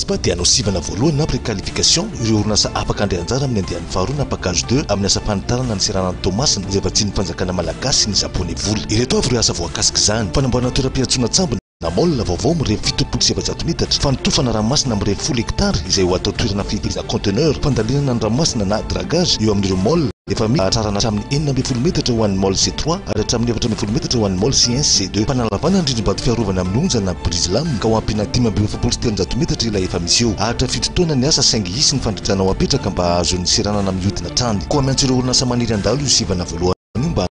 Spa dia hanao sivana voalohany na préqualification ireo orinasa afaka handray anjara amin'ny andiany faharoa na package deux amin'ny asam-panitarana ny seranan'i Toamasina izay vatsian'ny fanjakana malagasy sy ny Japoney vola. Ireto avy ireo asa voakasik'izany, fanamboarana toeram-piantsoana an-tsambony, Na môle vaovao mirevy fitopolo sy efajato metatra, fanotofana ranomasina mirevy folo hekitara izay ho atao toerana fiteza conteneur, fandalinana ny ranomasina na dragage eo amin'ireo môle efa misy, hatrarana hatramin'ny enina ambin'ny folo metatra ho an'ny môle C-trois ary hatramin'ny efatra ambin'ny folo metatra ho an'ny môle C-un sy C-deux. Fanalavana ny rindrim-bato fiarovana amin'ny onja na brise lame ka ho ampiana dimy amby efapolo sy telonjato metatra ilay efa misy eo. Ahatra fito taona ny asa saingy hisy ny fandridrana ho apetraka mba hahazoan'ny seranana mihodina hatrany. Koa miantso ireo orinasa maniry handalo io sivana voalohany io mba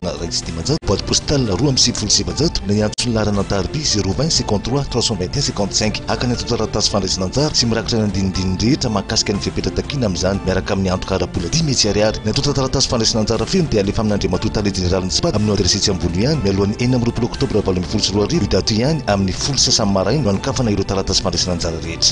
na iray sy dimanjato, boite postale roa amby sivifolo sy sivinjato, na hiantso ny laharana an-tariby zéro vingt cinquante trois trois cent vingt et un cinquante cinq haka ny antontan-taratasy fandraisana anjara sy mirakitra ny andinindininy rehetra mahakasika ny fepetra takiana amin'izany miaraka amin'ny antoka ara-bola dimy hetsy ariary. Ny antontan-taratasy fandraisana anjara feno dia alefa amin' Andriamatoa Tale Jeneralin'ny Spad amin'io adiresy etsy ambony io ihany, mialohan'ny enina amby roapolo oktobra valo ambin'ny folo sy roa arivo, io daty io ihany, amin'ny folo sy sasany maraina, no anokafana ireo taratasy fandraisana anjara rehetra.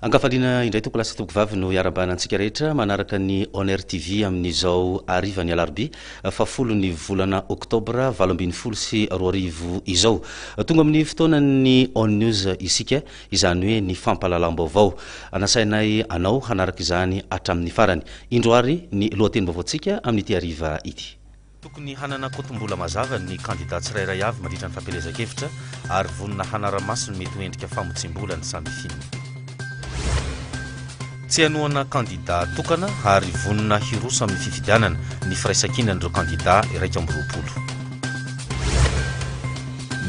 Ankafaliana indray toko lasa toko vavy no iarabana antsika rehetra manaraka ny Honor TV amin'izao harivan'ny alarobia fahafolo ny volana oktobra valo ambin'ny folo sy roa arivo izao. Tonga amin'ny fotoanan'ny On News isika. izany hoe ny fampahalalam-baovao. Nasainay anao hanaraka izany hatramin'ny farany. Indro àry ny lohatenim-baovaontsika amin'ity hariva ity. Tokony hanana kotombola mazava ny kandidà tsirairay avy mandritra ny fampielezan-kevitra ary vonona hanara-maso ny mety ho endrika famotsiam-bola ny samifinina. Tsy hanohana kandidà tokana ary vonona hiroso amin'ny fifidianana ny firaisankinan'ireo kandidà iraika amby roapolo.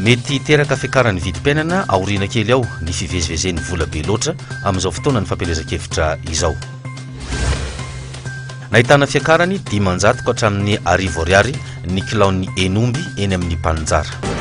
Mety hiteraka fiakaran'ny vidim-piainana aoriana kely ao ny fivezivezen'ny vola be loatra amin'izao fotoanan'ny fampielezan-kevitra izao. Nahitana fiakarany dimanjato ka hatramin'ny arivo ariary ny kilaon'ny hen'omby eny amin'ny mpaninjara.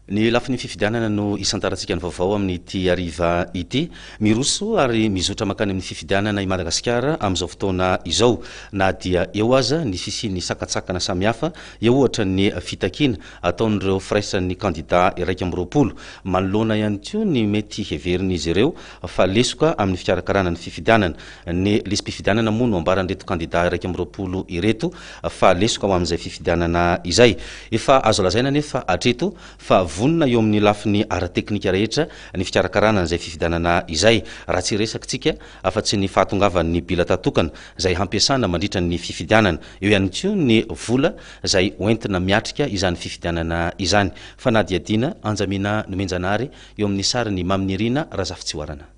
Ny lafiny fifidianana no isantarantsika ny vaovao amin'ity hariva ity. Miroso ary mizotra mankany amin'ny fifidianana i Madagasikara amin'izao fotoana izao. Na dia eo aza ny fisian'ny sakantsakana samihafa, eo ohatra ny fitakiana ataon'ireo firaisan'ny kandidà iraika amby roapolo, manoloana ihany koa ny mety heverin'izy ireo fa lesoka amin'ny fikarakarana ny fifidianana. Ny lisi-pifidianana moa no ambaran'ireto kandidà iraika amby roapolo ireto fa lesoka ho amin'izay fifidianana izay. Efa azo lazaina anefa hatreto fa vonona eo amin'ny lafiny ara-teknika rehetra ny fikarakarana an'izay fifidianana izay, raha tsy resakintsika afa-tsy ny fahatongavan'ny bilata tokana izay hampiasana mandritra ny fifidianana. Eo ihany koa ny vola izay hoentina miatrika izany fifidianana izany. Fanadihadiana Anjamina Nomenjanahary eo amin'ny sarin'i Mamy Nirina Razafitsihoarana.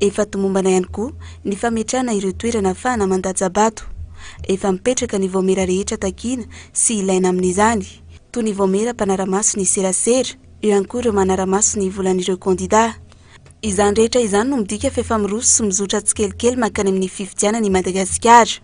Efa tomombana ihany koa ny fametrahana ireo toerana ahafahana mandatsa-bato. Efa mipetraka ny vaomiera rehetra takiana sy ilaina amin'izany, toy ny vaomiera mpanara-maso ny serasera, eo ihany koa ireo manara-maso ny volan'ireo kandidà. Izany rehetra izany no midika fa efa miroso sy mizotra tsikelikely mankany amin'ny fifidianana i Madagasikara.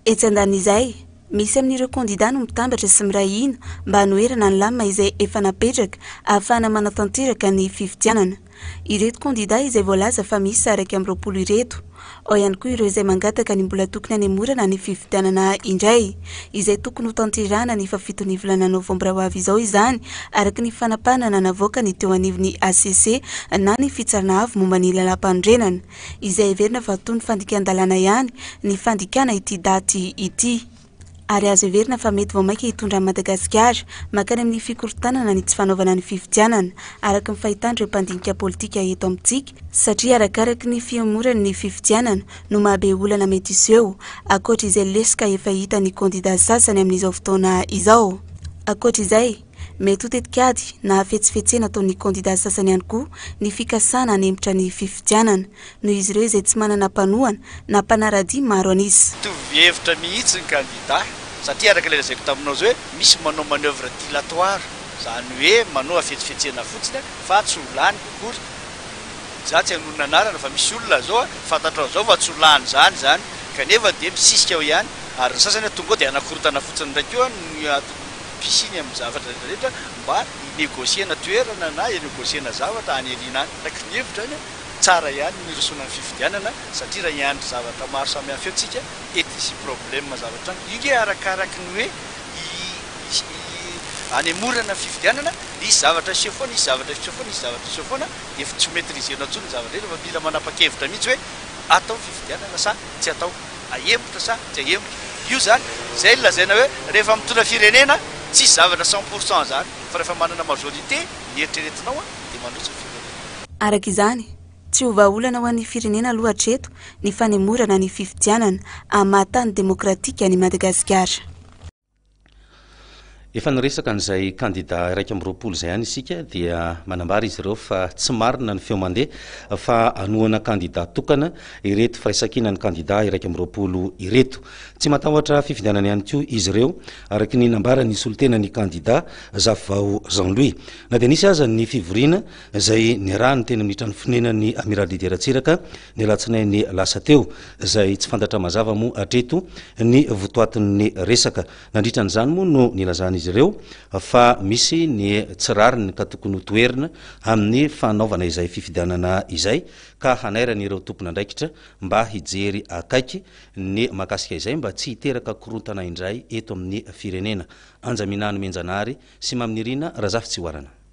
Etsy andanin'izay, misy amin'ireo kandidà no mitambatra sy miray hina mba hanoherana ny lamina izay efa napetraka ahafahana manatanteraka ny fifidianana. Ireto kandidà izay voalaza fa miisa iraika amby roapolo ireto. Ao ihany koa ireo izay mangataka ny mbola tokony hanemorana ny fifidianana indray, izay tokony hotanterahana ny fahafiton'ny volana novambra ho avy izao izany, araka ny fanapahana nanavoaka ny teo anivon'ny hcc na ny Fitsarana Avo momba ny Lalàmpanorenana. izay heverina fa toy ny fandikan-dalàna ihany ny fandikana ity daty ity ary azo heverina fa mety vao mainka hitondra an'i Madagasikara mankany amin'ny fikorontanana ny tsy fanaovana ny fifidianana araka ny fahitan'ireo mpandinika politika eto amintsika satria arakaraka ny fihemorany ny fifidianana no mahabe olana mety hiseho ankoatra izay lesoka efa hita ny kandida sasany amin'izao fotoana izao ankoatra izay Mety ho tetikady na hafetsifetsena ataon'ny kandida sasany ihany koa ny fikasana hanempotra ny fifidianana, noho izy ireo izay tsy manana mpanohana na mpanara-dia maro an'isa. Mitovy hevitra mihitsy ny kandida, satria araka ilay lazaiko taminao izay hoe misy manao manœuvre dilatoire, izany hoe manao hafetsifetsena fotsiny fa tsy ho lany akory, za tsy hanonona anarana fa misy olona zao fantatrao zao fa tsy ho lany zany izany kanefa dia misisika ao ihany ary ny sasany tonga ao dia hanakorontana fotsiny indray koa ny. fisiany amin'ny zavatra rehetrarehetra mba hi-negocier-na toerana na hi-negocier-na zavatra any aoriana any. Araka ny hevitro any, tsara ihany ny hirosoana amin'ny fifidianana satria raha hiandry zavatra maro samihafa eo tsika, et hisy problème zavatra any. Io nge arakaraky ny hoe hi-hanemorana ny fifidianana, hisy zavatra hiseho foana, hisy zavatra hiseho foana, hisy zavatra hiseho foana, dia efa tsy ho maitrisena intsony ny zava-drehetra fa mila manapa-kevitra mihitsy hoe atao ny fifidianana sa tsy atao. Ahemotra sa tsy ahemotra? Io zany, zay no lazaina hoe rehefa mitondra firenena, tsisy zavatra cent pour cent zany, fa rehefa manana majorité ny eritreretinao an, dia manohitra firenena. Araka izany, tsy ho vahaolana ho an'ny firenena aloha hatreto ny fanemorana ny fifidianana amin'ny maha tany demokratika an'i Madagasikara. Efa niresaka an'izay kandida iraika amby roapolo izay ihany isika dia manambara izy ireo fa tsy marina ny feo mandeha fa hanohana kandida tokana ireto firaisankina ny kandida iraika amby roapolo ireto. Tsy matahotra fifidianana ihany koa izy ireo araka ny nambaran'ny solotenan'ny kandida Zafivao Jean Louis. Na dia nisy aza ny fivoriana izay niarahany teny amin'ny trano fonenan'ny Amiral Didier Ratsiraka, ny alatsinainy lasa teo, izay tsy fantatra mazava moa hatreto ny votoatin'ny resaka. Nandritra an'izany moa no nilazan'izy ireo fa misy ny tsy rariny ka tokony ho toherina amin'ny fanaovana izay fifidianana izay ka hanairany ireo tompon'andraikitra mba hijery akaiky ny mahakasika izay mba tsy hiteraka korontana indray eto amin'ny firenena. Anja Minanomenjanahary sy Mamy Nirina Razafitsihoarana.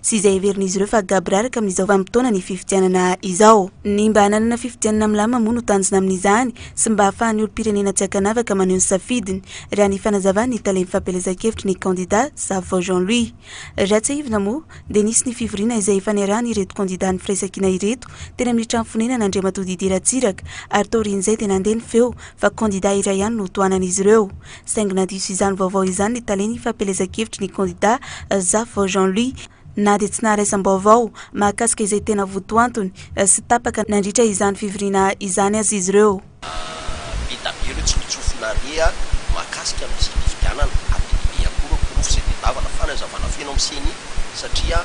sy izay heverin'izy ireo fa gabra araka amin'izao vanim-potoana ny fifidianana izao. Ny mba hananana fifidianana milamina moa no tanjona amin'izany sy mba hahafahan'ny olom-pirenena tsy ankanavaka maneho ny safidiny, raha ny fanazavan'ny talen'ny fampielezan-kevitry ny kandida Zafo Jean Louis. Raha tsiahivina moa dia nisy ny fivoriana izay efa niarahan'ireto kandida nifiraisankina ireto teny amin'ny trano fonenana Andriamatoa Didier Ratsiraka ary taorian'izay dia nandeha ny feo fa kandida iray ihany no ho tohanan'izy ireo saingy nadiso izany vaovao izany ny talen'ny fampielezan-kevitry ny kandidà Zafo Jean Louis na dia tsy naharaisambaovao mahakasika izay tena votoantony sy tapaka nandritra izany fivoriana izany aza izy ireo. Be da be ireo tsinontsofina re a! Mahakasika ny tsy nifidianana, ary dia be be ihany koa ireo porofo izay tedavana, fanazavana feno amin'ny ceni. satria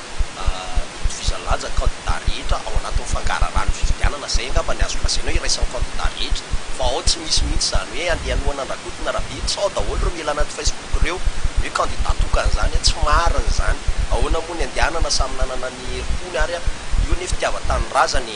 itovizan'ny lanja ny kandida rehetra ao anatin'ny fangaharaharahan'ny fifidianana, izay angamba ny azo lazaina hoe iraisan'ny kandida rehetra, fa ao tsy misy mihitsy izany hoe andeha hanohana an-dRakoto na Rabe, sao daholo ireo miaina anaty Facebook ireo hoe kandida tokana izany, tsy marina izany, ahoana moa ny andehanana samy nanana ny herim-pony ary io anie fitiavan-tanindrazana e!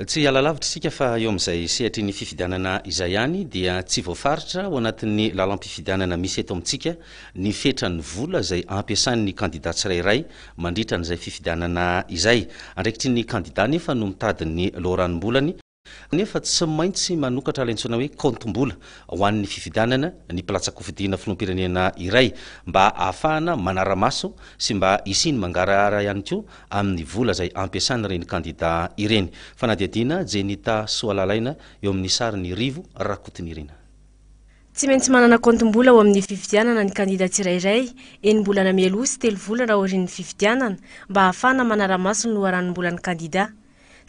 Tsy hiala lavitra isika fa eo amin'izay sehatry ny fifidianana izay ihany dia tsy voafaritra ao anatin'ny lalam-pifidianana misy eto amintsika ny fetran'ny vola izay ampiasan'ny kandida tsirairay mandritra an'izay fifidianana izay. Andraikitry ny kandida anefa no mitady ny loharanom-bolany. Nefa tsy maintsy manokatra ilay antsoina hoe kaontim-bola ho an'ny fifidianana ny mpilatsa-kofidina filoham-pirenena iray mba ahafahana manara-maso sy mba hisian'ny mangarahara ihany koa amin'ny vola izay ampiasan'ireny kandida ireny. Fanadihadiana Jenita Soalalaina eo amin'ny sarin'i Rivo Rakotonirina. Tsy maintsy manana kaontim-bola ao amin'ny fifidianana ny kandida tsirairay, enim-bolana mialoha sy telo volana aorian'ny fifidianana, mba ahafahana manara-maso ny loharanom-bolan'ny kandida.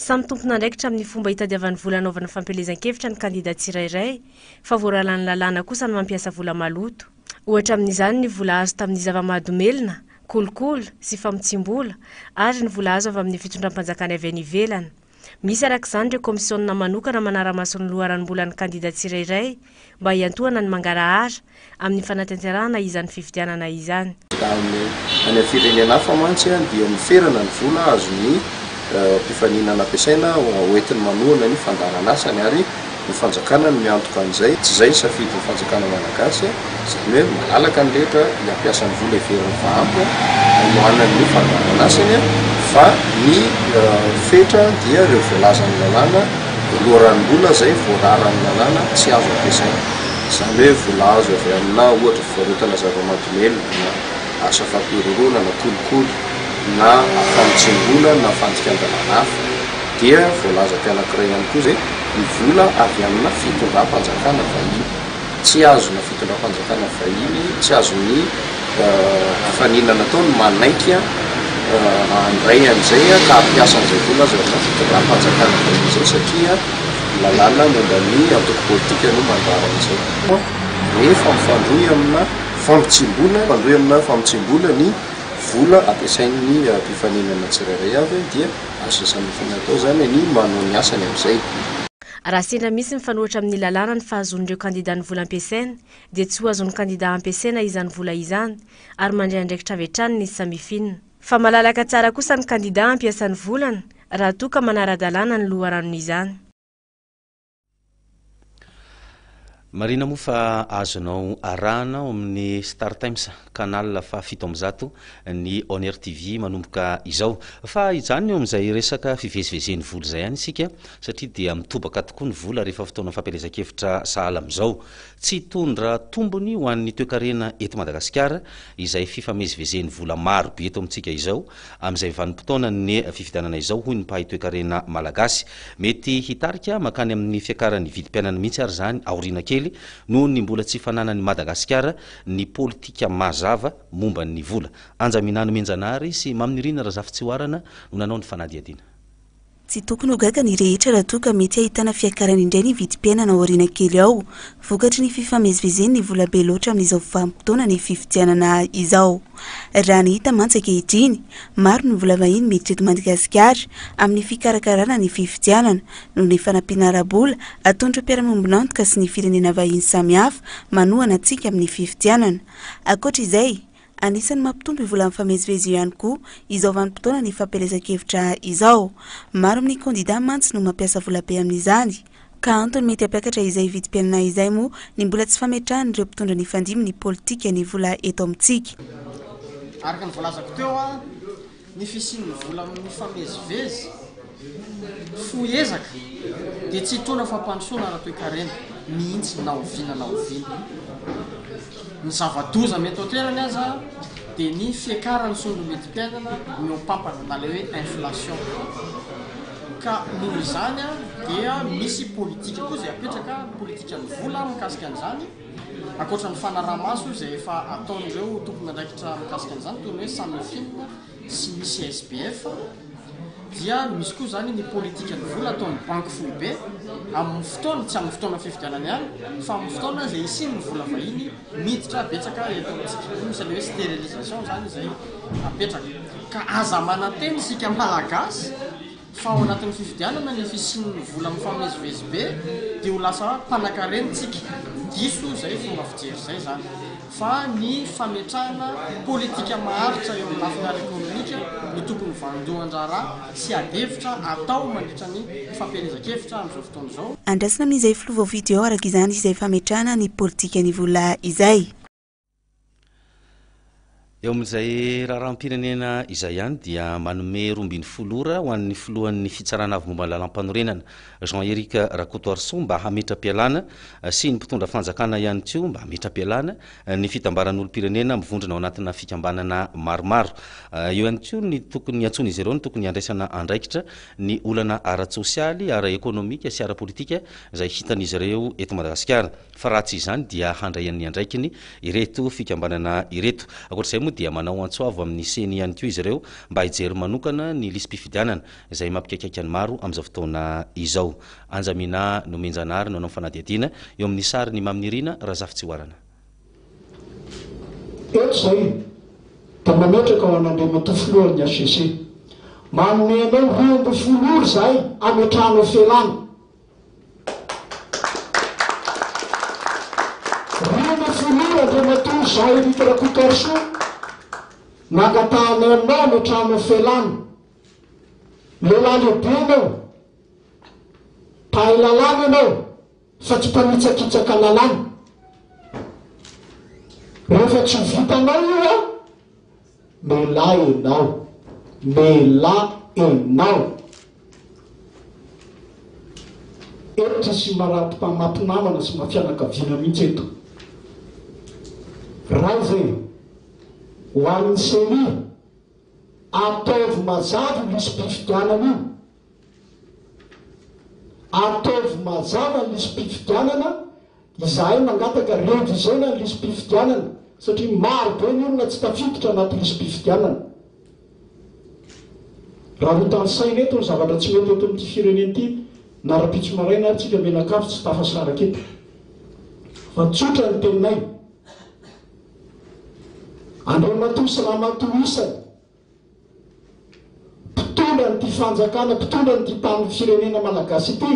Samy tompon'andraikitra amin'ny fomba itadiavany vola anaovana fampielezan-kevitra ny kandida tsirairay, fa voaralan'ny lalàna kosa ny mampiasa vola maloto. Ohatra amin'izany ny vola azo tamin'ny zava-mahadomelina, kolikoly sy famotsiam-bola, ary ny vola azo avy amin'ny fitondram-panjakany avy any ivelany. Misy araka izany ireo kaomisionina manokana manara-maso ny loharanom-bolan'ny kandida tsirairay, mba hiantohana ny mangarahara amin'ny fanatanterahana izany fifidianana izany. Any amin'ny firenena hafa mantsy dia miferana ny vola azon'ny mpifaninana ampiasaina hoentiny manohana ny fandaharan'asany ary ny fanjakana no miantoka an'izay. Tsy izay ny safidin'ny fanjakana malagasy. Izany hoe malalaka ny rehetra ny hampiasa ny vola heverin'ny fahampo hanohanany ny fandaharan'asany fa ny fetra dia ireo voalazan'ny lalàna loharanon'olona izay voararan'ny lalàna tsy azo ampiasaina. Izany hoe vola azo avy aminà ohatra fivarotana zava-mahadomelina na asa fampihorohoroana na kolikoly na famotsiam-bola na fandikan-dalàna hafa. Dia voalazako anankiray ihany koa izay ny vola avy aminà fitondram-panjakana vahiny. Tsy azon'ny fitondram-panjakana vahiny, tsy azon'ny hafanina nataony manaiky handray an'izay ka hampiasa an'izay vola aza ireo fitondram-panjakana vahiny izay satria lalàna momba ny antoko politika no mandrara an'izay. Rehefa mifandrohy amina fampitsim-bola, mifandrohy amina fampitsim-bola ny vola ampiasain'ny mpifaninana tsirairay avy dia azo sasana fanahy atao izany ny manao ny asany amin'izay. Raha sendra misy mifanohitra amin'ny lalàna ny fahazoan'ireo kandida ny vola ampiasainy, dia tsy ho azon'ny kandida ampiasaina izany vola izany ary mandray andraikitra avy hatrany ny samifina. Fa malalaka tsara kosa ny kandida hampiasa ny volany raha toa ka manara-dalàna ny loharanon'izany. Marina moa fa azonao arahana ao amin'ny Star Times canal faha fito amby zato ny On Air TV manomboka izao. Fa hijanona eo amin'izay resaka fivezivezen'ny vola izay ihany isika satria dia mitobaka tokoa ny vola rehefa fotoana fampielezan-kevitra sahala amin'izao. Tsy hitondra tombony ho an'ny toekarena eto Madagasikara izay fifamezivezen'ny vola marobe eto amintsika izao Amin'izay vanim-potoanan'ny fifidianana izao, hoy ny mpahay toekarena malagasy, mety hitarika mankany amin'ny fiakaran'ny vidim-piainana mihitsy ary izany aoriana kely noho ny mbola tsy fananan'i Madagasikara ny politika mazava momba ny vola. Anja Minanomenjanahary sy Maminirina Razafitsihoarana no nanao ny fanadihadiana. Tsy tokony ho gaga ny rehetra raha toa ka mety hahitana fiakarana indray ny vidim-piainana ao aoriana kely ao, vokatry ny fifamezivezeny ny vola be loatra amin'izao vanim-potoana ny fifidianana izao. Raha ny hita mantsy ankehitriny, maro ny vola vahiny miditra eto Madagasikara amin'ny fikarakarana ny fifidianana, noho ny fanampiana ara-bola ataon'ireo mpiara-miombon'antoka sy ny firenena vahiny samihafa manohana antsika amin'ny fifidianana. Ankoatra izay, Anisan'ny mampitombo io vola mifamezivezy io ihany koa izao vanim-potoana ny fampielezan-kevitra izao. Maro amin'ny kandidà mantsy no mampiasa vola be amin'izany. Ka antony mety hampiakatra izay vidim-piainana izay moa ny mbola tsy fametrahan'ireo mpitondra nifandimby ny politika ny vola eto amintsika. Araka ny voalazako teo, Ny fisian'ny vola mifamezivezy, fohy ezaka, dia tsy hitondra fampandrosoana ara-toekarena mihitsy na oviana na oviana. Ny zava-doza mety ho an-toerany aza dia ny fiakaran'ny sondro-midim-piainana mihoampampana na ilay hoe inflation. Ka noho izany dia misy politika koa izay apetraka, ny politikan'ny vola mikasika an'izany. Ankoatra ny fanaraha-maso izay efa ataon'ireo tompon'andraikitra mikasika an'izany, toy ny hoe Samifin sy ny CSBF, dia misy koa izany ny politikan'ny vola ataon'ny Banky Foibe amin'ny fotoana, tsy amin'ny fotoana fifidianana ihany, fa amin'ny fotoana izay hisian'ny vola vahiny miditra betsaka eto amintsika. Io misy an'ilay hoe sterilisation izany izay apetraka. Ka aza manantena isika Malagasy. fa ao anatin'ny fifidianana ny fisian'ny vola mifamezivezy be dia ho lasa mpanankarena isika, diso izay fomba fijery izay izany fa ny fametrahana politika maharitra eo amin'ny lafiny ara-ekonomika no tokony vandohan-draharaha sy adihevitra atao mandritra ny fampielezan-kevitra amin'izao fotoana izao. Andrasana amin'izay filoha vao fidy ao araka izany izay fametrahana ny politikan'ny vola izay. Eo amin'izay raharaham-pirenena izay ihany dia manome roa ambin'ny folo ora ho an'ny filohan'ny fitsarana avy momba ny lalàmpanorenana Jean Eric Rakotoarisoa mba hametra-pialana sy ny mpitondra fanjakana ihany koa mba hametra-pialana ny fitambaran'olom-pirenena mivondrona ao anatina fikambanana maromaro. Eo ihany koa ny tokony antsoin'izy ireo ny tokony handraisana andraikitra ny olana ara-tsosialy, ara-ekonomika sy ara-politika izay hitan'izy ireo eto Madagasikara. fa raha tsy izany dia handray an'ny andraikiny ireto fikambanana ireto. Ankoatra izay moa dia manao antso avo amin'ny ceni ihany koa izy ireo mba hijery manokana ny lisi-pifidianana izay mampikaikaika ny maro amin'izao fotoana izao. Anjamina Nomenjanahary no hanao ny fanadihadiana eo amin'ny sarin'i Mamy Nirina Razafitsihoarana. Eto izay dia mametraka ho an'Andriamatoa Filohan'ny HCC. Manome anao roa ambin'ny folo ora izahay hametrahanao felana. Reny Filoha Andriamatoa Jean Eric Rakotoarisoa, nangatahanay aminao any an-trano felana. Lehilahy lehibe ianao, mpahay lalàna ianao fa tsy mpanitsakitsaka lalàna. Rehefa tsy ho vitanao io an! Lehilahy enao. Lehilahy enao. Hetra sy marary mpamaty namana sy mafianakaviana mihitsy eto. Ray zay e. Ho an'ny ceni, ataovy mazava io lisi-pifidianana io. Ataovy mazava ny lisi-pifidianana Izahay mangataka revizena ny lisi-pifidianana satria maro be ny olona tsy tafiditra anaty lisi-pifidianana. Raha ho tanisaina eto ny zavatra tsy mety eto amin'ity firenena ity na rapitso maraina ary tsika mianakavy tsy tafasaraka eto. Fa tsotra ny teninay. Andriamatoa sy Ramatoa isany. Mpitondra an'ity fanjakana, mpitondra an'ity tanin'ny firenena malagasy ity,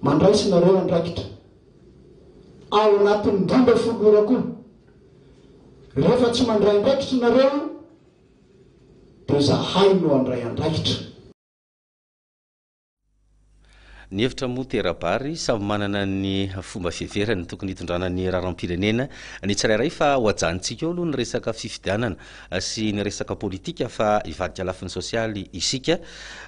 mandraisinareo andraikitra ao anatin'ny dimba folo ora koa. Rehefa tsy mandray andraikitra nareo dia zahay no handray andraikitra. Ny hevitra moa tera-bary, samy manana ny fomba fiheverany tokony hitondrana ny raharaham-pirenena ny tsirairay fa ho ajanontsika eo aloha ny resaka fifidianana sy ny resaka politika fa hivadika lafiny sosialy isika.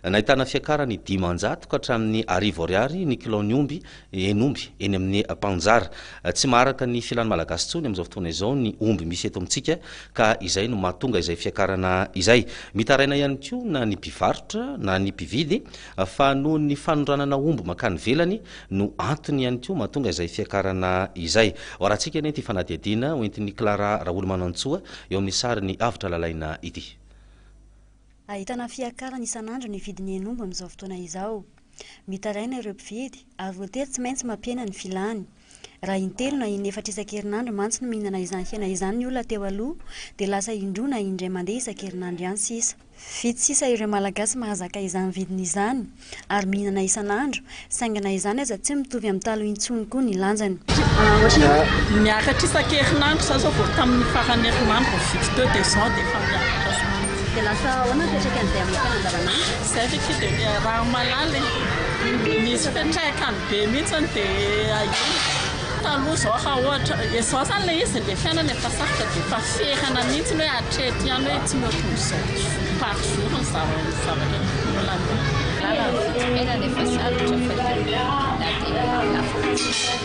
Nahitana fiakarany dimanjato ka hatramin'ny arivo ariary ny kilaon'ny omby Eny omby, eny amin'ny mpanjara. Tsy maharaka ny filan'ny Malagasy intsony amin'izao fotoana izao ny omby misy eto amintsika ka izay no mahatonga izay fiakarana izay. Mitaraina ihany koa na ny mpivarotra na ny mpividy fa noho ny fanondranana omby mankany ivelany no antony ihany koa mahatonga izay fiakarana izay. Hoarantsika anie ity fanadihadiana hoentin'i Clara Raholomanantsoa eo amin'ny sarin'i Avotra Lalaina ity. Ahitana fiakarana isan'andro ny vidin'ny hen'omby amin'izao fotoana izao. Mitaraina ireo mpividy ary voatery tsy maintsy mampihena ny filany. Raha intelo na inefatra isan-kerinandro mantsy no mihinana izany hena izany ny olona teo aloha, dia lasa indroa na indray mandeha isan-kerinandro ihany sisa. Vitsy sisa ireo Malagasy mahazaka izany vidiny izany ary mihinana isan'andro, saingy na izany aza tsy mitovy amin'ny taloha intsony koa ny lanjany. Ohatran'ny miakatra isan-kerinandro izao, izao vao tamin'ny faran'ny herinandro vao vitsy teo dia izao dia efa miakatra izany. Dia lasa ahoana ny fiantraikan'izay amin'ny fiainana andavanandro? Izay ve tsy dia ny ramalala e! Nisy fiantraikany be mihitsiny dia ahia. Taloha izao raha ohatra, izao izany ilay izy, ilay fiainana efa sarotra dia efa ferana mihitsiny hoe hatreto ihany hoe tsy mihoatra ny izao par jour ny zavatra olana. Ny fiainana efa sarotra fa io na dia lafo aza.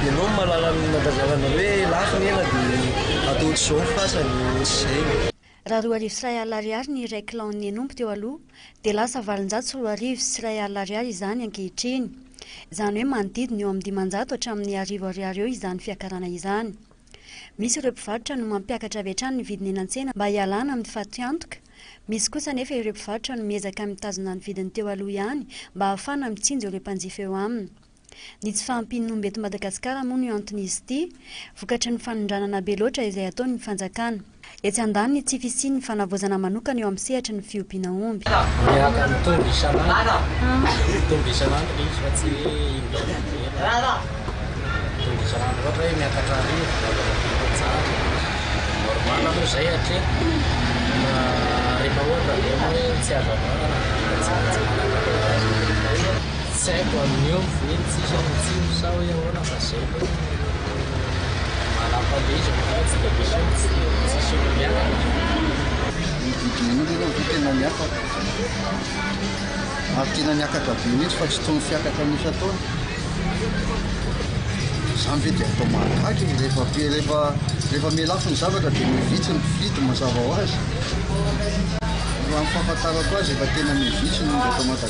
Ianao no mahalala ny mandazalana hoe lafo ny hena dia atao ohatr'izao ny fasany, ohatr'izay. Raha roa arivo sy iray alina ariary ny iray kilao ny hen'omby teo aloha dia lasa valonjato sy roa arivo sy iray alina ariary izany ankehitriny. Izany hoe manodidina eo amin'ny dimanjato hatramin'ny arivo ariary eo izany fiakarana izany. Misy ireo mpivarotra no mampiakatra avy hatrany ny vidiny eny an-tsena mba hialana amin'ny fatiantoka. Misy kosa anefa ireo mpivarotra no miezaka mitazona ny vidiny teo aloha ihany mba hahafana mitsinjo ireo mpanjifa eo aminy. Ny tsy fahampian'ny omby eto Madagasikara moa no ianton'izy ity, vokatry ny fanondranana be loatra izay ataon'ny fanjakana. Etsy andaniny ny tsy fisian'ny fanavaozana manokana eo amin'ny sehatry ny fiompiana omby. Miaka mitombo isan'andro, mitombo isan'andro ilay izy fa tsy hoe indray mandeha, mitombo isan'andro ohatra hoe miakatra arivo arivo normal aloha izay hatreto fa rehefa ohatra ve moa hoe tsy azo andrana na dia tsy manana. Tsy haiko amin'io mihitsy sa ny tsindry sa hoe ahoana fa izay aloha no manam-pandihizako fa tsy dia misy olona tsy tsisy olona miakatra. Ny vidin'olona aloha no tena miakatra ary tena miakatra be mihitsy fa tsy toy ny fiakatra ny isan-taona. Izany ve dia atao mahagaga e? Rehefa be rehefa rehefa mihalafo ny zavatra dia mihitsy ny mpividy mazava ho azy. Raha ny fahafantarako azy efa tena mihitsy ny olona eto Madagasikara.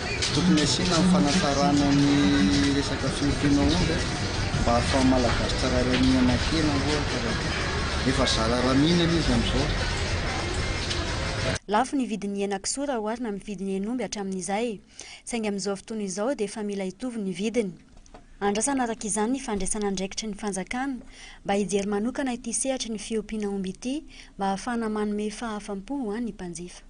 tsy tokony asiana ny fanatsarana ny resaka fiompiana omby a, mba ahafahan'ny Malagasy tsirairay mihinan-kena ohatra raha toa ka efa zara raha mihinana izy amin'izao. Lafo ny vidin'ny henan-kisoa raha oharina amin'ny vidin'ny hen'omby hatramin'izay. Saingy amin'izao fotoana izao dia efa mila hitovy ny vidiny. Andrasana araka izany ny fandraisana andraikitry ny fanjakana mba hijery manokana ity sehatry ny fiompiana omby ity mba ahafahana manome fahafam-po ho an'ny mpanjifa.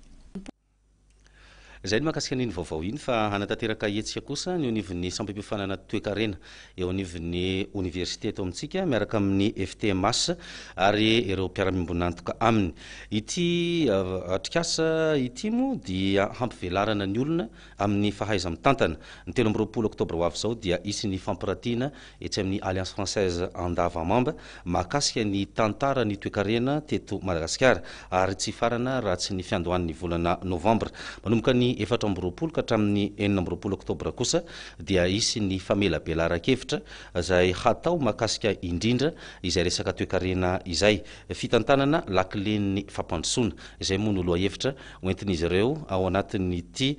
Izay ny mahakasika an'iny vaovao iny fa hanatanteraka hetsika kosa ny eo anivon'ny sampam-piofanana toekarena eo anivon'ny oniversite eto amintsika miaraka amin'ny FTMH ary ireo mpiara-miombon'antoka aminy. Ity atrikasa ity moa dia hampivelarana ny olona amin'ny fahaiza-mitantana. Ny telo amby roapolo oktobra ho avy izao dia hisy ny fampiratiana etsy amin'ny Alliance Française Andavamamba mahakasika ny tantaran'ny toekarena teto Madagasikara ary tsy hifarana raha tsy ny fiandohan'ny volana novambra. Manomboka ny efatra amby roapolo ka hatramin'ny enina amby roapolo oktobra kosa dia hisy ny famelabelaran-kevitra izay hatao mahakasika indrindra izay resaka toekarena izay. Fitantanana lakilen'ny fampandrosoana izay moa no lohahevitra hoentin'izy ireo ao anatin'ity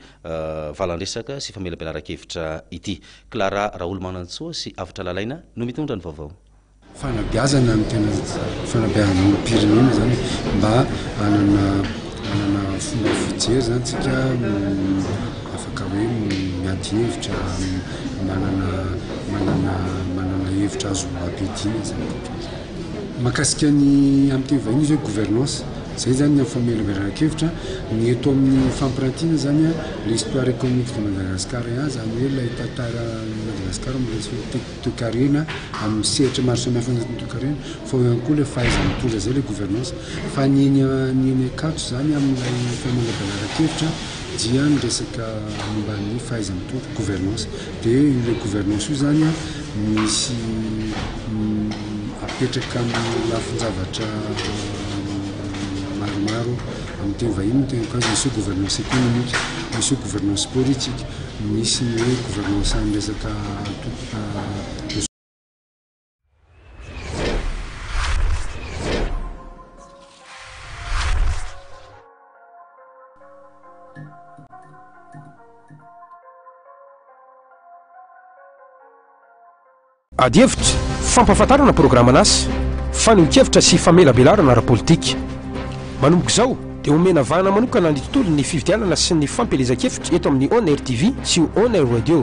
valandresaka sy famelabelaran-kevitra ity. Clara Raolomanantsoa sy Avotra Lalaina no mitondra ny vaovao. Fanabeazana no tena fanabeazana olom-pirenena zany e, mba hanana hanana fomba fijery zany tsika afaka hoe miady hevitra, manana manana manana hevitra azo ampiadiana zany. Mahakasika ny amin'ny teny vahiny izy hoe gouvernance. Izay izany ny famelabelaran-kevitra. Ny eto amin'ny fampirantiana izany, l'histoire économique de Madagascar, izany hoe ilay tantaran'i Madagasikara amin'ny resaka toekarena, amin'ny sehatra maro samihafa anatin'ny toekarena, fa ao ihany koa ilay fahaizana mitondra izay ilay gouvernance. Fa ny eny Ankatso izany amin'ilay famelabelaran-kevitra dia ny resaka momba ny fahaiza-mitondra, gouvernance. Dia ilay gouvernance io izany an, misy apetraka amin'ny lafin-javatra maromaro, amin'ny teny vahiny ny teniko azy, misy hoe gouvernance économique, misy hoe gouvernance politique, misy ny hoe gouvernance amin'ny resaka. Adihevitra, fampahafantarana programan'asa, fanehoan-kevitra sy famelabelarana ara-politika. Manomboka izao dia omena vahana manokana ny tontolon'ny fifidianana sy ny fampielezan-kevitra eto amin'ny On Air TV sy On Air Radio.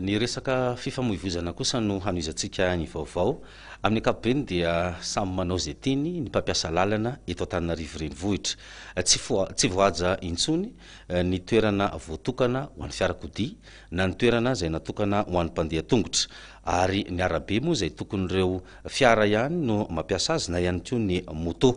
Ny resaka fifamoivozana kosa no hanohizantsika ny vaovao. Amin'ny ankapobeny dia samy manao izay tiany ny mpampiasa lalana eto Antananarivo Renivohitra. Tsy tsy voahaja intsony ny toerana voatokana ho an'ny fiarakodia na ny toerana izay natokana ho an'ny mpandeha tongotra ary ny arabe moa izay tokon'ireo Fiara ihany no mampiasa azy na ihany koa ny moto.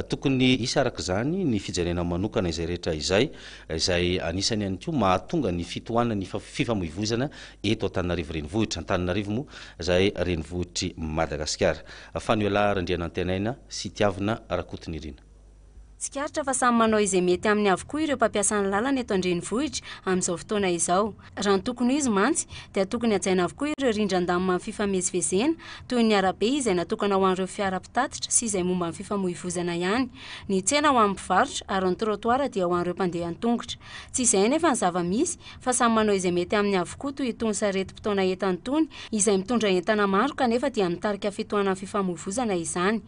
Tokony hisy araka izany ny fijerena manokana izay rehetra izay, izay anisany ihany koa mahatonga ny fitohanan'ny fifamoivoizana eto Antananarivo Renivohitra. Antananarivo moa izay renivohitr'i Madagasikara. Faniola Randrianantenaina sy Tiavina Rakotonirina. Tsikaritra fa samy manao izay mety aminy avokoa ireo mpampiasa ny lalana eto an-drenivohitra amin'izao fotoana izao. Raha ny tokony ho izy mantsy dia tokony hajaina avokoa ireo rindran-damima amin'ny fifamezivezena toy ny arabe izay natokana ho an'ireo fiara mpitatitra sy izay momba ny fifamoivozana ihany, ny tsena ho an'ny mpivarotra ary ny trottoir dia ho an'ireo mpandeha an-tongotra. Tsy izay anefa ny zava-misy fa samy manao izay mety aminy avokoa toy itony sarety mpitaona entana itony izay mitondra entana maro kanefa dia mitarika fitohanan'ny fifamoivozana izany.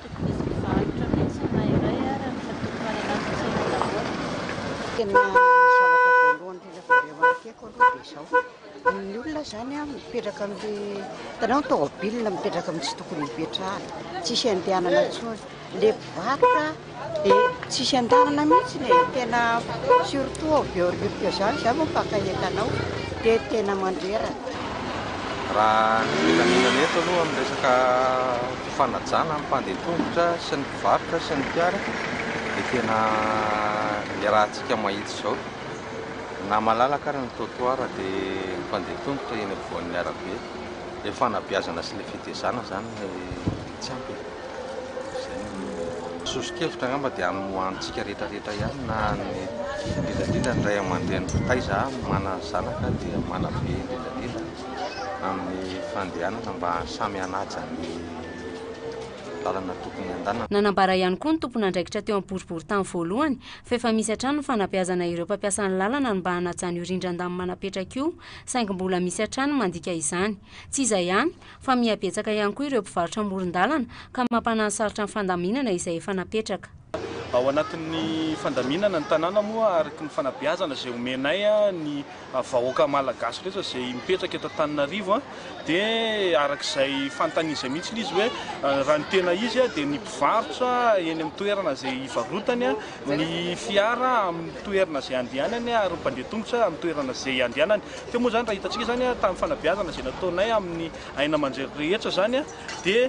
Tokony hisy mpivarotra mihitsy ny Mayray ary amin'ny fampitohanana ny tsena daholo. Tena ny zavatra voalohany indrindra vao remarquer-ko aloha dia izao, ny olona izany an mipetraka amin'ilay, hitanao ny tomobil mipetraka amin'ny tsy tokony hipetrahany, tsisy andehanana intsony, ilay mpivarotra dia tsisy andehanana mihitsiny e, tena surtout ao Behoririka izany, izaho moa mpaka entana ao dia tena mandreraka. Raha ny filaminana eto aloha amin'ny resaka. fanajana ny mpandeha tongotra sy ny mpivarotra sy ny mpiara dia tena iarahantsika mahitsy izao na malalaka ary ny trottoir dia ny mpandeha tongotra eny ampovoan'ny arabe ilay fanabeazana sy ilay fitezana izany no tsy ampy e! izay no soso-kevitra angamba dia amin'ny ho antsika rehetra rehetra ihany na ny indrindra indrindra ny ray aman-dreny taiza manana zanaka dia manabe indrindra indrindra amin'ny fandehanana mba samy hanaja ny lalana tokony handanana. Nanambara ihany koa ny tompon'andraikitra teo amin'ny boriborintany voalohany fa efa misy hatrany ny fanabeazana ireo mpampiasa ny lalana ny mba hanajany io rindran-damba manapetraka io saingy mbola misy hatrany ny mandika izany. Tsy izay ihany fa miha-betsaka ihany koa ireo mpivarotra amoron-dalana ka mampanahy sarotra ny fandaminana izay efa napetraka. Ao anatin'ny fandaminana ny tanàna moa araka ny fanabeazana izay omenay ny vahoaka malagasy rehetra izay mipetraka eto Antananarivo dia araka izay fanontaniany izay mihitsy izy hoe raha ny tena izy dia ny mpivarotra eny amin'ny toerana izay hivarotany, ny fiara amin'ny toerana izay handehanany ary ny mpandeha tongotra amin'ny toerana izay handehanany. Teo moa izany raha hitantsika izany tamin'ny fanabeazana izay nataonay amin'ny aina aman-jery rehetra izany dia.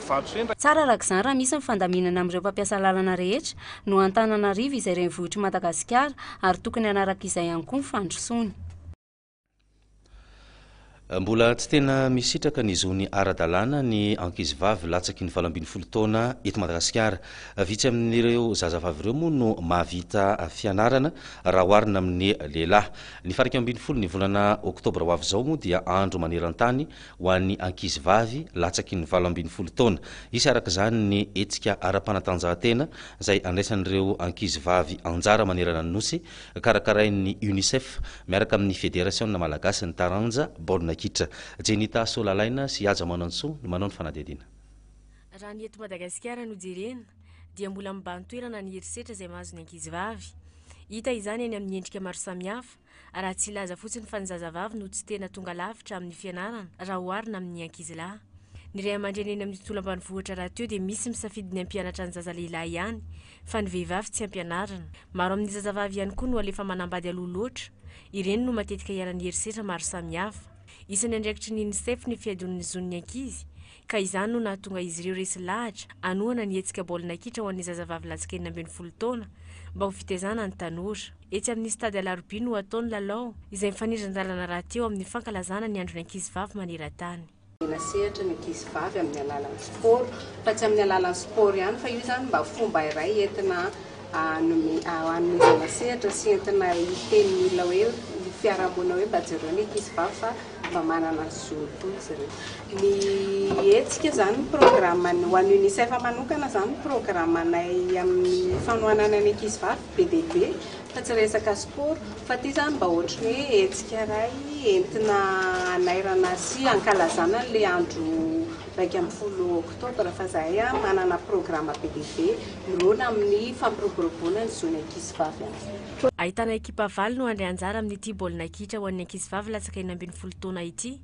Tsara araka izany raha misy ny fandaminana amin'ireo mpampiasa lalana rehetra, noho Antananarivo izay renivohitr'i Madagasikara ary tokony hanaraka izay ihany koa ny fandrosoany. Mbola tsy tena misitraka ny zony ara-dalàna ny ankizivavy latsaky ny valo ambin'ny folo taona eto Madagasikara. Vitsy amin'ireo zazavavy ireo moa no mahavita fianarana raha oharina amin'ny lehilahy. Ny faha iraika ambin'ny folo ny volana oktobra ho avy izao moa dia andro maneran-tany ho an'ny ankizy vavy latsaky ny valo ambin'ny folo taona. Hisy araka izany ny hetsika ara-panatanjahantena izay andraisan'ireo ankizy vavy anjara manerana ny Nosy, karakarain'ny Unicef miaraka amin'ny Federasiona malagasin'ny taranja baolina kitra. Jenita Solalaina sy Haja Manantsoa no manao ny fanadihadiana. Raha ny eto Madagasikara no jerena dia mbola mibahan-toerana ny herisetra izay mahazo ny ankizy vavy. Hita izany any amin'ny endrika maro samihafa raha tsy hilaza fotsiny fa ny zazavavy no tsy tena tonga lavitra amin'ny fianarana raha oharina amin'ny ankizilahy. Ny ray aman-dreny eny amin'ny tontolo ambanivohitra rahateo dia misy misafidy ny hampianatra ny zaza lehilahy ihany fa ny vehivavy tsy ampianarina. Maro amin'ny zazavavy ihany koa no alefa manambady aloha loatra. Ireny no matetika iharan'ny herisetra maro samihafa. Isan'ny andraikitry ny UNICEF ny fihadoan'ny zon'ny ankizy. ka izany no nahatonga izy ireo resy lahatra hanohana ny hetsika baolina kitra ho an'ny zazavavy latsaka enina ambin'ny folo taona mba ho fitaizana ny tanora. Etsy amin'ny Stade Alarobia no hatao ny lalao, izay mifanindran-dalana rahateo amin'ny fankalazana ny andron'ny ankizivavy maneran-tany. Omena sehatra ny ankizivavy amin'ny alalan'ny sport, fa tsy amin'ny alalan'ny sport ihany fa io izany mba fomba iray entina hanomezana sehatra sy entina hiteny ny olona hoe ny fiarahamonina hoe mba jereo ny ankizivavy fa mba manana ny zony koa izy ireo. Ny hetsika izany ny programme ny ho an'ny UNICEF manokana izany ny programanay amin'ny fanohanana ny ankizivavy be dia be fa tsy resaka sport fa ity izany mba ohatry ny hoe hetsika iray entina hanairana sy hankalazana an'ilay andro iraika ambin'ny folo oktobra fa zahay manana programa be dia be mirona amin'ny fampiroboroboana ny zon'ny ankizivavy amin'izay. Ahitana ekipa valo no handray anjara amin'ity baolina kitra ho an'ny ankizivavy latsaka enina ambin'ny folo taona ity.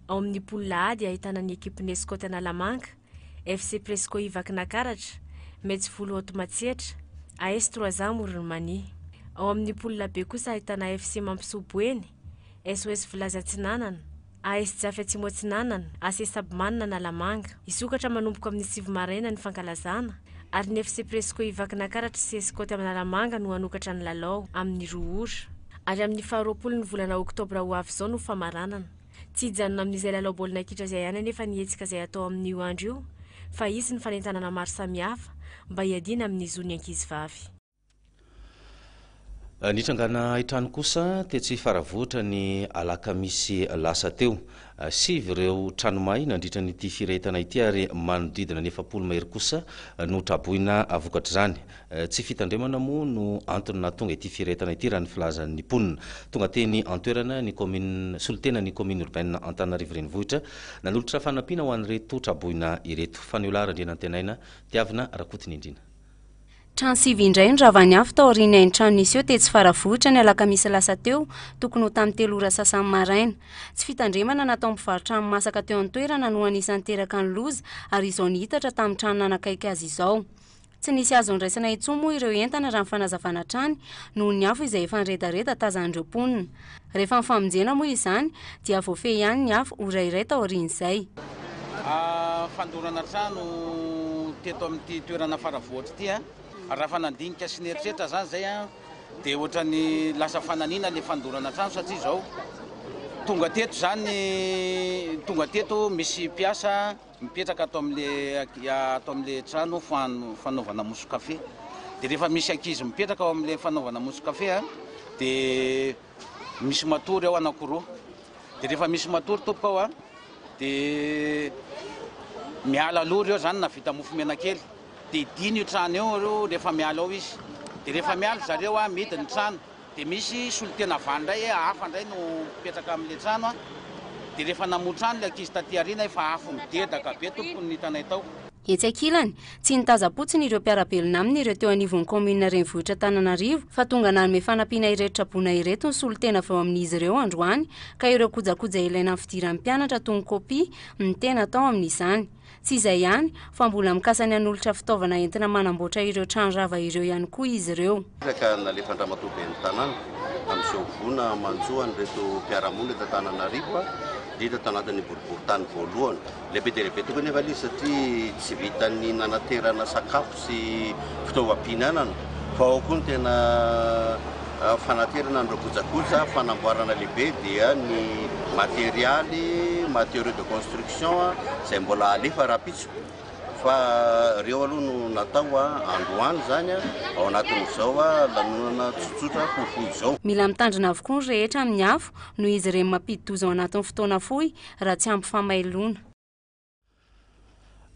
Ao amin'ny poule A dia ahitana ny ekipin'ny Scouts Analamanga, FC Presco Ivakinankaratra, Metz Volo Haute Matsiatra, AS Trois Ans Amoron'i Mania. Ao amin'ny poule B kosa ahitana FC Mampisoa Boeny, SOS Vilazy Atsinanana, AS Jafy Atsimo Atsinanana, AC Sabmana Analamanga, hisokatra manomboka amin'ny sivy maraina ny fankalazana, ary ny FC Presco Ivakinankaratra sy Escote Analamanga no hanokatra ny lalao, amin'ny roa ora. Ary amin'ny faha roapolon'ny volana oktobra ho avy izao no famaranana. Tsy hijanona amin'izay lalao baolina kitra izay ihany anefa ny hetsika izay hatao amin'io andro io, fa hisy ny fanentanana maro samihafa, mba hiadiana amin'ny zon'ny ankizivavy. Nitrangana haintrano kosa tetsy Faravohitra ny alakamisy lasa teo. Sivy ireo trano may nandritra ny ity firehetana ity ary manodidina ny efapolo mahery kosa no traboina vokatr'izany. Tsy fitandremana moa no antony nahatonga ity firehetana ity raha ny filazan'ny mponina. Tonga teny an-toerana ny kaominina solontena ny kaominina urbaine Antananarivo Renivohitra nanolotra fanampiana ho an'ireto traboina ireto. Faniolahy Randrianantenaina, Tiavina Rakotonindrina. Trano sivy indray no ravan'ny afo tao aorian'ny hain-trano niseho tetsy Faravohitra ny alakamisy lasa teo, tokony ho tamin'ny telo ora sasany maraina. Tsy fitandremana nataon'ny mpivarotra hani-masaka teo an-toerana no anisan'ny niteraka ny loza ary izao nihitatra tamin'ny trano nanakaiky azy izao. Tsy nisy azo andraisana intsony moa ireo entana raha ny fanazavana hatrany noho ny afo izay efa niredareda tazan'ireo mponina. Rehefa ny famonjena moa izany dia voafehy ihany ny afo ora iray taorian'izay. Fandorana trano teto amin'ity toerana Faravohitra ity an! Raha efa nandinika sy nieritreritra izany izay an! dia ohatran'ny lasa fananina ilay fandorana trano satria izao tonga teto izany tonga teto misy mpiasa Mipetraka ato amin'ilay ato amin'ilay trano fanaovana mousse café dia rehefa misy ankizy mipetraka ao amin'ilay fanaovana mousse café a dia misy matory ao anankiroa dia rehefa misy matory tompoko ao a dia miala aloha ireo zany na vita mofo menakely dia dino io trano io rehefa miala ao izy dia rehefa miala zareo a midiny trano Dia misy solontena vany indray hafa indray no mipetraka amin'ilay trano an! Dia rehefa namoha trano ilay ankizy taty aoriana efa afo midedaka be tompoko no hitanay tao. Etsy ankilany, tsy nitazam-potsiny ireo mpiara-belona aminy ireo teo anivon'ny kaominina renivohitra Antananarivo fa tonga nanome fanampiana ireto traboina ireto ny solontena avy ao amin'izy ireo androany ka ireo kojakoja ilaina amin'ny fidiran'ny mpianatra toa ny kopia no tena tao amin'izany. Tsy izay ihany, fa mbola mikasa ny hanolotra fitaovana entina manamboatra ireo trano rava ireo ihany koa izy ireo. Hira ka nalefan-dRamatoa Ben'ny Tanàna amin'izao voina manjo an'ireto mpiara-monina eto Antananarivo, indrindra tao anatin'ny boriborintany voalohany. Lehibe dia lehibe tokoa anefa ilay izy satria tsy vitan'ny nanaterana sakafo sy fitaovam-pihinanana fa ao koa ny tena Fanaterana an'ireo kojakoja fanamboarana lehibe dia ny materialy, matériaux de construction, izay mbola alefa rahampitso fa ireo aloha no natao androany izany ao anatin'izao lanonana tsotsotra fohifohy izao. Mila mitandrina avokoa ny rehetra amin'ny afo noho izy ireny mampidi-doza ao anatin'ny fotoana fohy raha tsy ampy famailoana.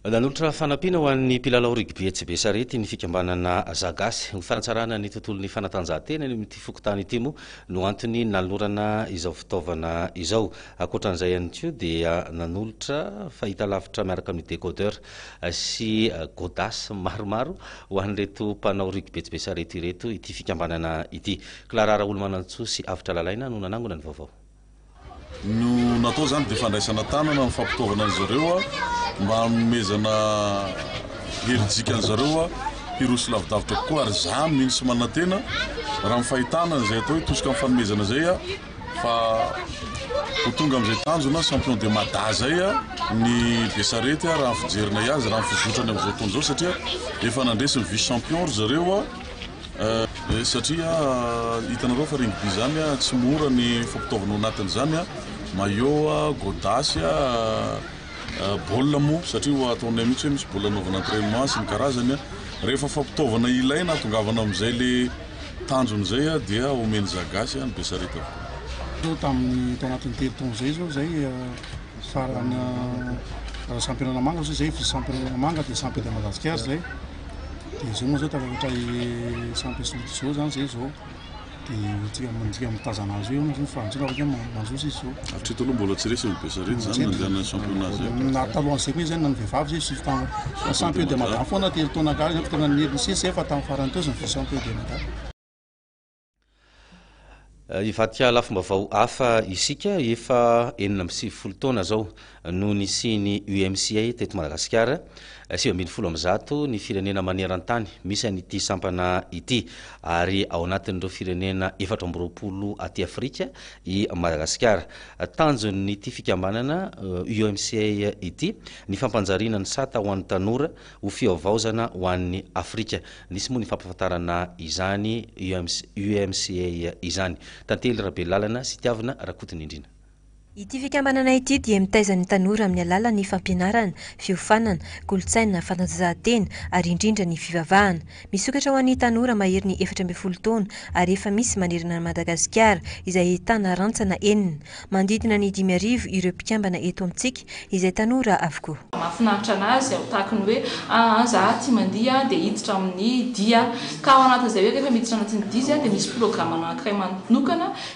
Nanolotra fanampiana ho an'ny mpilalao rugby etsy Besarety ny fikambanana Zagasy. Ho fanatsarana ny tontolon'ny fanatanjahantena eny amin'ity fokontany ity moa no antony nanolorana izao fitaovana izao. Ankoatran'izay ihany koa dia nanolotra fahitalavitra miaraka amin'ny décodeur sy godas maromaro ho an'ireto mpanao rugby etsy Besarety ireto ity fikambanana ity. Clara Raolomanantsoa sy Avotra Lalaina no nanangona ny vaovao. No natao izany dia fandraisana tanana ny fampitaovana an'izy ireo mba hanomezana herijika an'izy ireo hiroso lavidavitra kokoa ary izaho mino sy manantena raha ny fahitana izay atao hoe tosika amin'ny fanomezana izay fa ho tonga amin'izay tanjona champion de mada izay ny besarety raha fijerina azy raha ny fizotrany amin'izao fotoana izao satria efa nandresy ny vice champion ry zareo Satria hitanareo fa regny by zany tsy mora ny fampitaovana ao anatiny zany a, maillot, gôdasy, bôl moa satria ho ataonay mitsy hoe misy bôl anaovana entrainement sy ny karazany a, rehefa fampitaovana ilaina atongavana amizay le tanjony zay a dia omeny za gasy a ny be sarety avokoa. Teo tamin'ny tao anatin'ny telo taona izay izao izay farany, raha sampy Analamanga izao izay, sampy Analamanga dia sampy eto Madagasikara izay. dia izao moa zao ka rehefa sampy asoloty zao zany zay zao dia tsika manjika mitazana azy eo izy fa antsika avy manjosa izy zao hatreto aloha mbola tsy resy ny besarety zany nandehana championnat zay na talohan'izay koa izy zany na ny vehivavy zay sivy taona fa sampy eo dia madama foana telo taona gaga zany tena nisesy zay fa tamin'ny farany teo izy ny vice champion dia madama Hivakia lafim-baovao hafa isika efa enina amby sivifolo taona izao no nisian'ny UMCA teto Madagasikara, sivy ambin'ny folo amin'ny zato ny firenena maneran-tany misy an'ity sampana ity ary ao anatin'ireo firenena efatra amby roapolo aty Afrika i Madagasikara. Tanjon'ity fikambanana UMCA ity ny fampanjariana ny sata ho an'ny tanora ho fihavaozana ho an'ny Afrika. Nisy moa ny fampahafantarana izany UMCA izany. Tantely Rabelalana sy Tiavina Rakotonindrina. Ity fikambanana ity dia mitaiza ny tanora amin'ny alalan'ny fampianarana, fiofanana, kolontsaina, fanatanjahantena ary indrindra ny fivavahana. Misokatra ho an'ny tanora maherin'ny efatra ambin'ny folo taona ary efa misy manerana an'i Madagasikara, izay ahitana rantsana enina. Manodidina ny dimy arivo ireo mpikambana eto amintsika, izay tanora avokoa. Mahafinaritra an'azy aho tahaka ny hoe aa za aty mandihy dia hiditra amin'ny dihy aho ka ao anatin'izay hoe rehefa miditra anatin'ny dihy zay dia misy programme anankiray manokana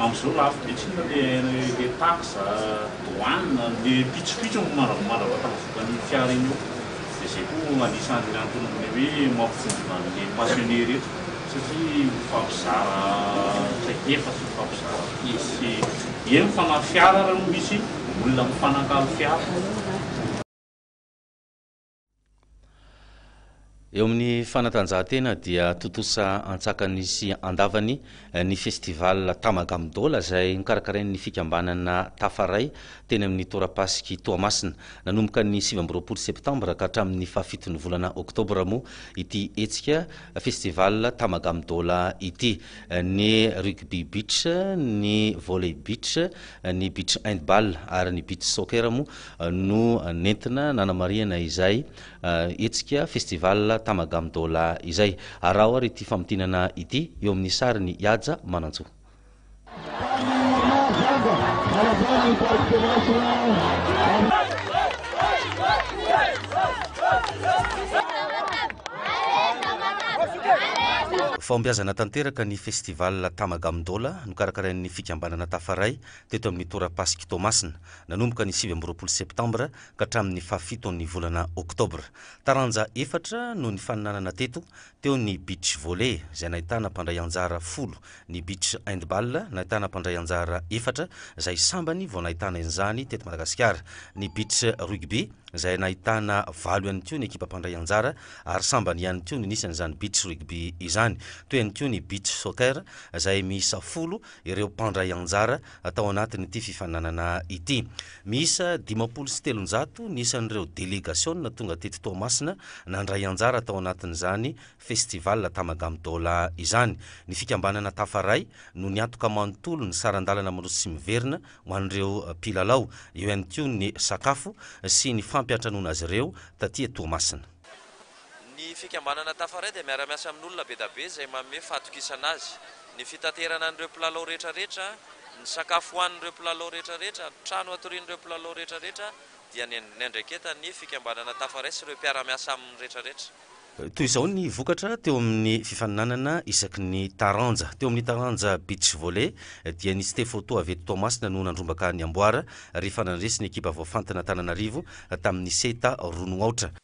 Amin'izao lafo be tsinona le taxe, douane, le pitsopitso no mandravamandrava vokan'ny fiara iny eo. Dia izay koa anisan'ny anton'le hoe mampivondrona an'le passionné reto satria mifampizara traikefa sy mifampizara piece sy eny ny fanahy fiara ary misy olona mifanakalo fiara. Eo amin'ny fanatanjahantena dia tontosa antsakany sy andavany ny festival Tamagamdola izay nokarakarain'ny fikambanana Tafaray teny amin'ny torapasiky Toamasina. Nanomboka ny sivy amby roapolo septambra ka hatramin'ny fahafiton'ny volana oktobra moa ity hetsika festival Tamagamdola ity. Ny rugby beach, ny volley beach, ny beach handball ary ny beach soccer moa no nentina nanamarihana izay hetsika Festival Tamagam Dola izay. Araho ary ity famintinana ity eo amin'ny sarin'i Ihaja Manantsoa. Fahombiazana tanteraka ny Festival Tamagam Dola nokarakarain'ny fikambanana Tafaray teto amin'ny tora-pasik'i Toamasina, nanomboka ny sivy amby roapolo septambra ka hatramin'ny fahafiton'ny volana oktobra. Taranja efatra no nifaninanana teto, teo ny beach volley izay nahitana mpandray anjara folo, ny beach handball nahitana mpandray anjara efatra izay sambany vao nahitana izany teto Madagasikara, ny beach rugby izay nahitana valo ihany koa ny ekipa mpandray anjara ary sambany ihany koa ny nisan'izany beach rugby izany, teo ihany koa ny beach soccer izay miisa folo ireo mpandray anjara tao anatin'ity fifaninanana ity. Miisa dimampolo sy telonjato ny isan'ireo delegasiona tonga teto Toamasina nandray anjara tao anatin'izany Festival Tamagami Dola izany. Ny fikambanana Tafaray no niantoka manontolo ny saran-dalana miroso sy miverina ho an'ireo mpilalao, eo ihany koa ny sakafo sy ny fampiantranoana azy ireo taty Toamasina. Ny fikambanana Tafaray dia miara-miasa amin'olona bedabe izay manome fatokisana azy. Ny fitaterana an'ireo mpilalao rehetrarehetra, ny sakafo hohanin'ireo mpilalao rehetrarehetra, ny trano hatorian'ireo mpilalao rehetrarehetra dia ny niandraiketan'ny fikambanana Tafaray sy ireo mpiara-miasa aminy rehetrarehetra. Toy izao ny vokatra teo amin'ny fifaninanana isaky ny taranja. Teo amin'ny taranja Beach Volley dia ny Stefo Toa avy eto Toamasina no nandrombaka ny amboara rehefa nandresy ny ekipa voafantina Antananarivo tamin'ny seta roa no aotra.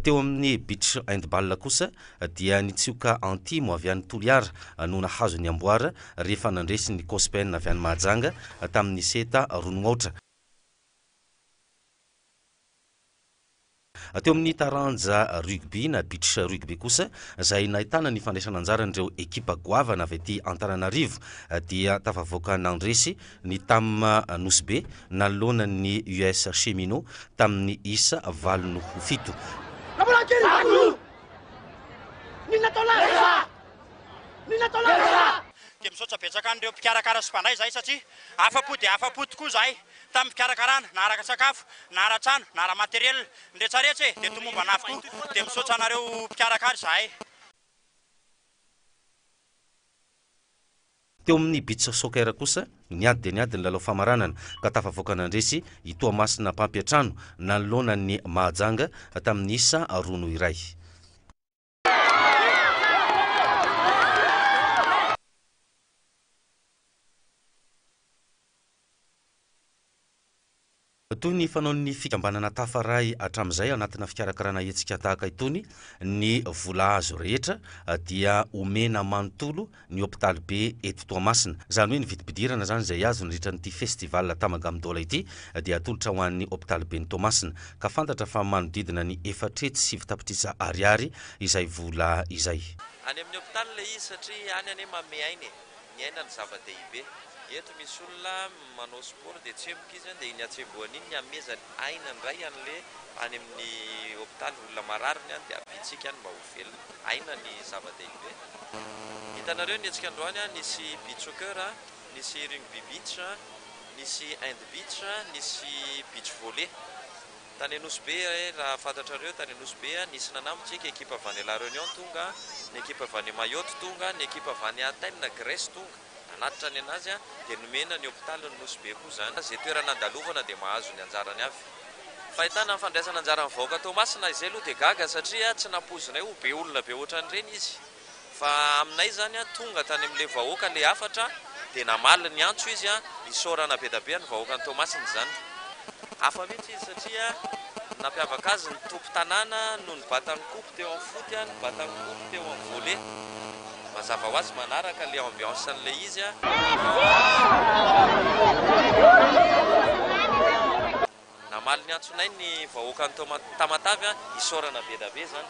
Teo amin'ny Beach Handball kosa dia ny tsioka Antimo avy any Toliara no nahazo ny amboara rehefa nandresy ny Cospen avy any Mahajanga tamin'ny seta roa no aotra. Teo amin'ny taranja rugby na beach rugby kosa, izay nahitana ny fandraisana anjaran'ireo ekipa goavana avy aty Antananarivo, dia tafavoaka nandresy ny Tam Nosy Be nanoloana ny US Cheminots tamin'ny isa valo noho fito. Dia misaotra betsaka an'ireo mpikarakara sy mpandray izahay satria afa-po dia afa-po tokoa izahay Tamin'ny fikarakarana, na araka sakafo, na ara-trano, na ara-materiel, ny rehetrarehetra e, dia tomombana avokoa, dia misaotra anareo mpikarakara izahay. Teo amin'ny Beach Soccer kosa, niady dia niady ny lalao famaranana, ka tafavoaka nandresy i Toamasina mpampiantrano, nanoloana ny Mahajanga, tamin'ny isa roa noho iray. Toy ny fanaon'ny fikambanana Tafaray hatramin'izay anatina fikarakarana hetsika tahaka itony, ny vola azo rehetra dia omena manontolo ny hopitaly be eto Toamasina. Izany hoe ny vidim-pidirana izany izay azo nandritra an'ity festival Tamagami Dola ity dia atolotra ho an'ny hopitaly ben'i Toamasina ka fantatra fa manodidina ny efatra hetsy sivy tapitrisa ariary izay vola izay. Any amin'ny hopitaly ilay izy satria any anie manome aina e! Ny aina no zava-dehibe. Eto misy olona manao sport dia tsemboka izy an dia iny hatsembohany iny ny hamehezany aina indray an'ilay any amin'ny hopitaly olona marary ny any dia haviantsika any mba ho. velona, aina ny zava-dehibe. Hitanareo ny hetsika androany a, nisy beach soccer a, nisy rugby beach a, nisy hand beach a, nisy beach volley. Tany Anosibe e, raha fantatrareo tany Anosibe a, nisy nanambontsika, ekipa avy any La Réunion tonga, ny ekipa avy any Mayotte tonga, ny ekipa avy any Athènes, Grèce, tonga. Nanatitra ny anazy aho dia nomena ny hopitaly ny Nosy Be koa izany. Izay toerana andalovana dia mahazo ny anjarany avy. Fahitana ny fandraisana anjaran'ny vahoaka Toamasina izay aloha dia gaga satria tsy nampoizinay ho be olona be ohatran'ireny izy. Fa aminay izany tonga tany amin'ilay vahoaka ilay hafatra dia namaly ny antso izy hisaorana bedabe ny vahoakan'i Toamasina izany. Hafa mihitsy izy satria ny nampiavaka azy ny toby tanàna no nibata ny coupe teo amin'ny foot, nibata ny coupe teo amin'ny volley. Mazava ho azy manaraka ilay ambiance an'ilay izy. Namaly ny antsonay ny vahoakan'i Tamatave, isaorana be dia be izany.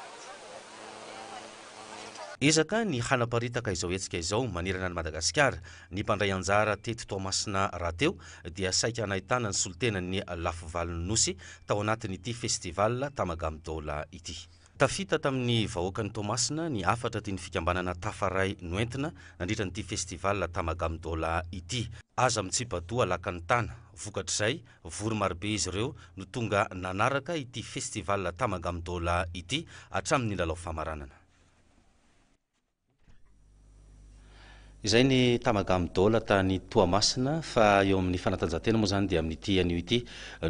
Ezaka ny hanaparitaka izao hetsika izao manerana an'i Madagasikara. Ny mpandray anjara teto Toamasina rahateo dia saika nahitana ny solontenan'ny lafy valin'ny Nosy tao anatin'ity festival Tamagamdola ity. Tafita tamin'ny vahoakan'i Toamasina ny hafatra tian'ny fikambanana Tafaray noentina nandritra an'ity festival Tamagamdola ity. Aza mitsipa-doha lakan'ny tana. Vokatr'izay, vory marobe izy ireo no tonga nanaraka ity festival Tamagamdola ity hatramin'ny lalao famaranana. Izay ny Tamagami Doll tany Toamasina fa eo amin'ny fanatanjahantena moa izany dia amin'ity anio ity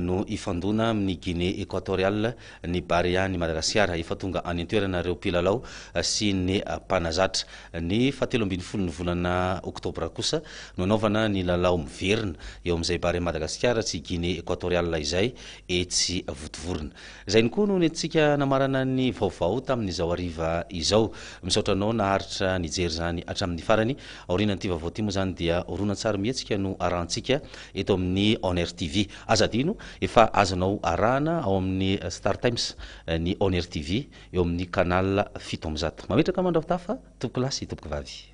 no hifandona amin'ny Guinée Equatoriale ny Barea ny Madagasikara. Efa tonga any an-toerana ireo mpilalao sy ny mpanazatra. Ny fahatelo ambin'ny folon'ny volana oktobra kosa no hanaovana ny lalao miverina eo amin'izay Barea Madagasikara sy Guinée Equatoriale izay etsy Vontovorona. Izay no koa no nentintsika namarana ny vaovao tamin'izao hariva izao. Misaotra anao naharitra nijery izany hatramin'ny farany. Aorianan'ity vaovao ity moa izany dia horonantsary mihetsika no arahantsika eto amin'ny onrtv. Aza adino, efa azonao arahana ao amin'ny Startimes ny onrtv eo amin'ny canal fito amby zato. Mametraka mandrahotafy tompokolahy sy tompokovavy.